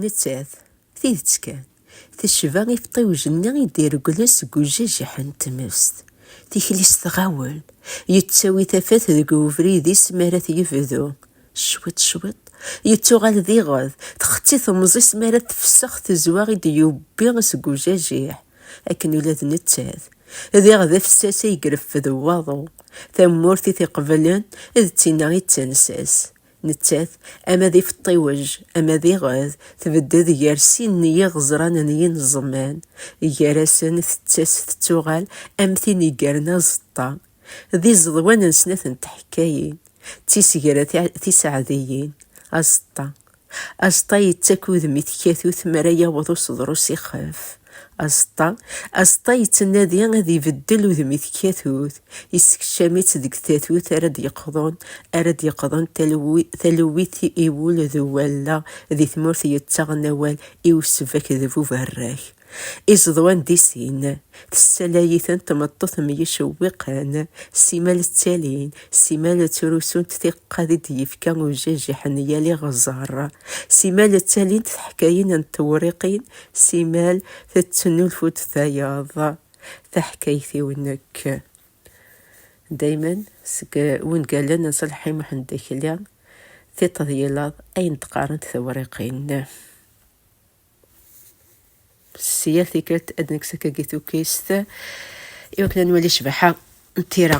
Nettat, tidet kan, tecba ifeṭṭiwjen-nni i d-iregglen seg ujajiḥ n tmest. Tikli-s tɣawel, yettawi tafat deg ubrid-is mi ara t-yebdu. Cwiṭ cwiṭ, yettuɣal d iɣed, txetti temẓi-s mi ara tefsex tezwa i d-yewwi seg ujajiḥ. Akken ula d nettat, d iɣ d afessas ay ireffed waḍu. Tamurt i t-iqeblen, d tinna i d tansa-s. Nettat, ama d ifeṭṭiwej, ama d iɣed, tbedded gar sin n yiɣeẓran n yineẓman. Gar-asen, tettas tettuɣal am tin yeggaren aẓeṭṭa. D iẓeḍwan n snat n tḥekkayin, d tisegra tiseɛdiyin. Aẓeṭṭa. Aẓeṭṭa yettak udem i tkatut mi ara yaweḍ useḍru s ixef. Azeṭṭa, azeṭṭa yettnadi ad ibeddel udem-it katut, yessekcam-itt deg tatut ara d-yeqḍun, ara d-yeqḍun talewit i wul d walla di tmurt yettaɣen awal i usbak d buberrak. Izeḍwan di sin, tessalay-iten tmeṭṭut myecewwiqen, simal ttalin, simal ttrusunt tiqad i d-yefka ujajiḥ n yal iɣẓer, simal ttalint teḥkayin n tewriqin Simal tettnulfu-d tayeḍ taḥkayt-iw nekk. Daymen seg wungalen n Selḥi Muḥend Akli, tiṭ d yilaḍ ayen d-qqarent tewriqin. S yal tikkelt ad nekkes akkagi tukkist i wakken ad nwali ccbaḥa n tira.